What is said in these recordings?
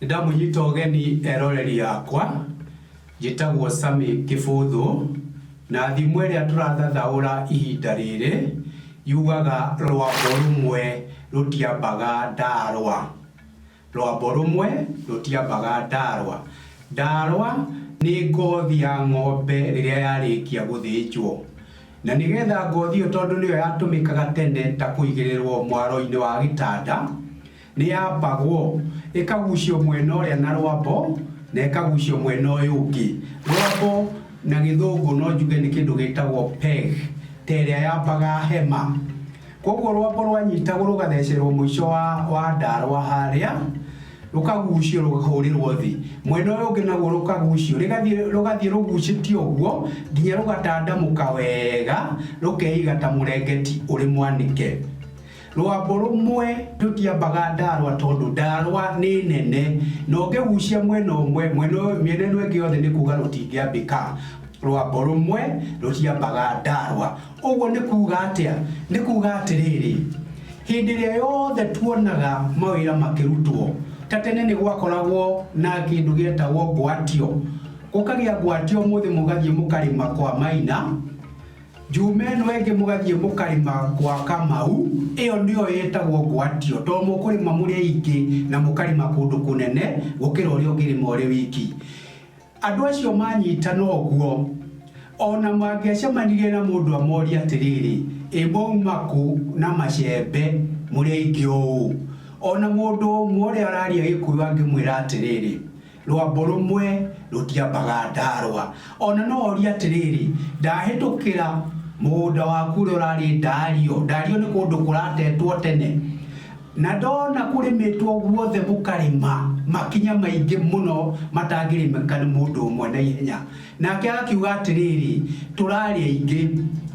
ndamunyita ũgeni eroreri yakwa njĩtagwo Sami Kĩbũthũ na thimũ ĩrĩa tũrathathaũra ihinda rĩrĩ yugaga rwambo rũmwe rũtiambaga ndarwa. Rwambo rũmwe rũtiambaga Ndarwa. Ndarwa nĩ ngothi ya ng'ombe rĩrĩa yarĩkia gũthĩnjwo. Na nĩgetha ngothi ĩyo tondũ nĩyo yatũmĩkaga tene ta kũigĩrĩrwo mwaro-inĩ wa gĩtanda, nĩyambagwo ĩkagucio mwena ũrĩa na rwambo na ĩkagucio mwena ũyũ ũngĩ. Rwambo na gĩthũngũ no njuge nĩ kĩndũ gĩtagwo peg, ta ĩrĩa yambaga hema. Kwoguo rwambo rwanyitagwo rũgathecerwo mũico wa, wa ndarwa harĩa, rũkagucio rũkahũrĩrwo thĩ, mwena ũyũ ũngĩ naguo rũkagucio, rĩgathiĩ, rũgathiĩ rũgucĩtio ũguo nginya rũgatandamũka wega rũkeiga ta mũrengeti ũrĩ mwanĩke. Rwambo rũmwe rũtiambaga ndarwa tondũ ndarwa nĩ nene, na ũngĩgucia mwena ũmwe, mwena ũyũ, mĩena ĩno ĩngĩ yothe nĩ kuuga rũtingĩambĩka. Rwambo rũmwe rũtiambaga ndarwa. Ũguo nĩ kuuga atĩa? Nĩ kuuga atĩrĩrĩ, hĩndĩ ĩrĩa yothe tuonaga mawĩra makĩrutwo, ta tene nĩ gwakoragwo na kĩndũ gĩetagwo ngwatio, gũkagĩa ngwatio ũmũthĩ mũgathiĩ mũkarĩma kwa Maina, njuma ĩno ĩngĩ mũgathiĩ mũkarĩma gwa Kamau, ĩyo nĩyo yetagwo ngwatio, to mũkũrĩma mũrĩ aingĩ na mũkarĩma kũndũ kũnene gũkĩra ũrĩa ũngĩrĩma ũrĩ wiki. Andũ acio maanyitana ũguo, o na mangĩacemanirie na mũndũ amorie atĩrĩrĩ, 'Ĩ mwauma kũ na macembe mũrĩ aingĩ ũũ? O na mũndũ ũmwe ũrĩa ũraria Gĩkũyũ angĩmwĩra atĩrĩrĩ, 'Rwambo rũmwe rũtiambaga Ndarwa. O na no orie atĩrĩrĩ, 'Ndahĩtũkĩra mũgũnda waku ũrĩa ũrarĩ Ndario? Ndario nĩ kũndũ kũratetwo tene. Na ndoona kũrĩmĩtwo guothe gũkarĩma makinya maingĩ mũno matangĩrĩmĩka nĩ mũndũ ũmwe na ihenya. Nake agakiuga atĩrĩrĩ, Tũrarĩ aingĩ,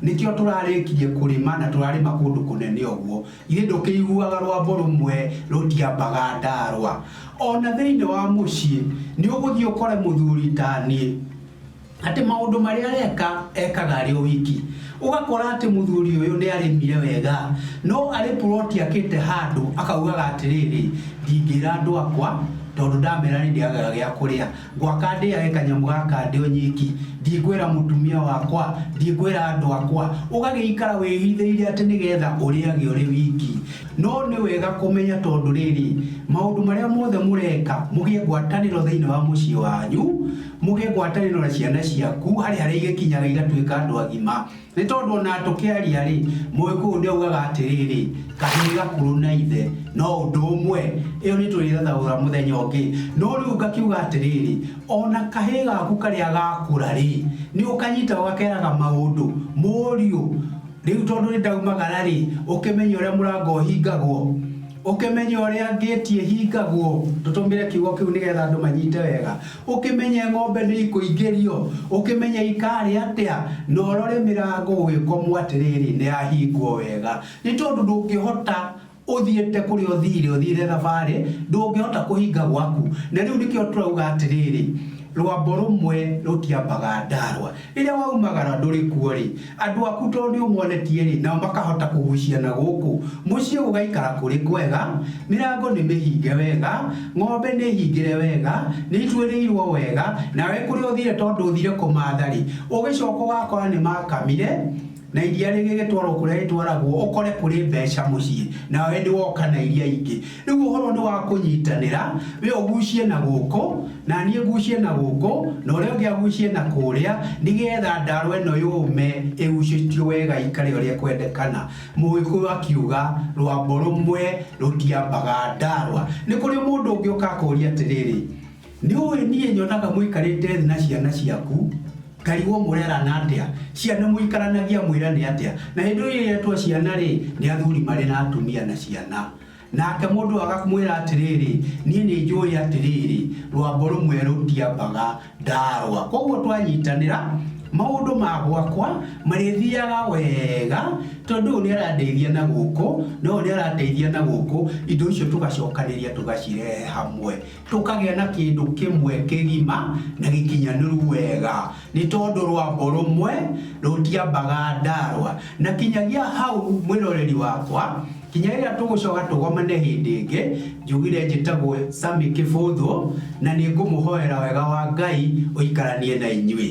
nĩkĩo tũrarĩkirie kũrĩma na tũrarĩma kũndũ kũnene ũguo. Githĩ ndũkĩiguaga rwambo rũmwe rũtiambaga ndaarwa? O na thĩinĩ wa mũciĩ nĩũgũthiĩ ũkore mũthuri ta niĩ. atĩ maũndũ marĩa areka ekaga arĩ o wiki. Ũgakora atĩ mũthuri ũyũ nĩ arĩmire wega, no arĩ puroti akĩte handũ akaugaga atĩrĩrĩ, ndingĩra andũ akwa tondũ ndamera nĩ ndĩagaga gĩa kũrĩa. Ngwaka ndĩage kanyamũ gaka ndĩ o nyiki, ndikwĩra mũtumia wakwa, ndikwĩra andũ akwa. Ũgagĩikara wĩhithĩire atĩ nĩ getha ũrĩage ũrĩ wiki. No nĩ wega kũmenya tondũ rĩrĩ, maũndũ marĩa mothe mũreka mũgĩe ngwatanĩro thĩinĩ wa mũciĩ wanyu, Mũgĩe ngwatanĩro na ciana ciaku harĩ harĩa igĩkinyaga igatuĩka andũ agima. Nĩ tondũ o na tũkĩaria-rĩ, Mũgĩkũyũ nĩ augaga atĩrĩrĩ, Kahĩĩ gakũrũ na ithe no ũndũ ũmwe. Ĩyo nĩ tũrĩthathaũra mũthenya ũngĩ. No rĩu ngakiuga atĩrĩrĩ, o na kahĩĩ gaku karĩa gakũra-rĩ, nĩ ũkanyitaga ũgakeraga maũndũ. Mũriũ, rĩu tondũ nĩ ndaumagara-rĩ, ũkĩmenye ũrĩa mũrango ũhingagwo. Ũkĩmenye ũrĩa ngĩti ĩhingagwo, tũtũmĩre kiugo kĩu nĩ getha andũ manyite wega, ũkĩmenye ng'ombe nĩ ikũingĩrio, ũkĩmenye ikarĩa atĩa, na ũrore mĩrango ũgĩkomwo atĩrĩrĩ, nĩ yahingwo wega. Nĩ tondũ ndũngĩhota ũthiĩte kũrĩa ũthiire, ũthiire thabarĩ, ndũngĩhota kũhinga gwaku. Na rĩu nĩkĩo tũrauga atĩrĩrĩ, rwambo rũmwe rũtiambaga Ndarwa. Rĩrĩa waumagara ndũrĩ kuo-rĩ, andũ aku tondũ nĩũmonetie-rĩ, nao makahota kũgucia na gũkũ. Mũciĩ gũgaikara kũrĩ kwega, mĩrango nĩmĩhinge wega, ng'ombe nĩhingĩre wega, nĩituĩrĩirwo wega, nawe kũrĩa ũthiire tondũ ũthiire kũmaatha-rĩ, ũgĩcooka ũgakora nĩmaakamire, Na iria rĩgĩgĩtwarwo kũrĩa rĩtwaragwo, ũkore kũrĩ mbeca mũciĩ, nawe nĩ woka na iria ingĩ. Rĩu ũhoro nĩ wa kũnyitanĩra, we ũgucie na gũkũ, na niĩ ngucie na gũkũ, na ũrĩa ũngĩ agucie na kũrĩa, nĩ getha ndaaro ĩno yũme ĩgucĩtio wega ĩikare ũrĩa ĩkwendekana. Mũgĩkũyũ akiuga, Rwambo rũmwe rũtiambaga ndaarwa. Nĩ kũrĩ mũndũ ũngĩ ũka akũũrie atĩrĩrĩ, Nĩũĩ niĩ nyonaga mũikarĩte thĩ na ciana ciaku, ngarigwo mũrerana atĩa, ciana mũikaranagia mwĩrane atĩa, na hĩndĩ ĩyo iretwo ciana-rĩ, nĩ athuri marĩ na atumia na ciana. Nake mũndũ ũyũ akamwĩra atĩrĩrĩ, niĩ nĩ njũĩ atĩrĩrĩ, rwambo rũmwe rũtiambaga ndarwa. Koguo twanyitanĩra, maũndũ ma gwakwa marĩthiaga wega, tondũ ũyũ nĩ arandeithia na gũkũ, na ũyũ nĩ arandeithia na gũkũ, indo icio tũgacokanĩrĩria tũgacirehe hamwe. Tũkagĩa na kĩndũ kĩmwe kĩgima na gĩkinyanĩru wega, nĩ tondũ rwambo rũmwe rũtiambaga Ndarwa. Na kinyagia hau mwĩroreri wakwa, kinya rĩrĩa tũgũcoka tũgomane hĩndĩ ĩngĩ, njugire njĩtagwo Sammy Kĩbũthũ, na nĩ ngũmũhoera wega wa Ngai ũikaranie na inyuĩ.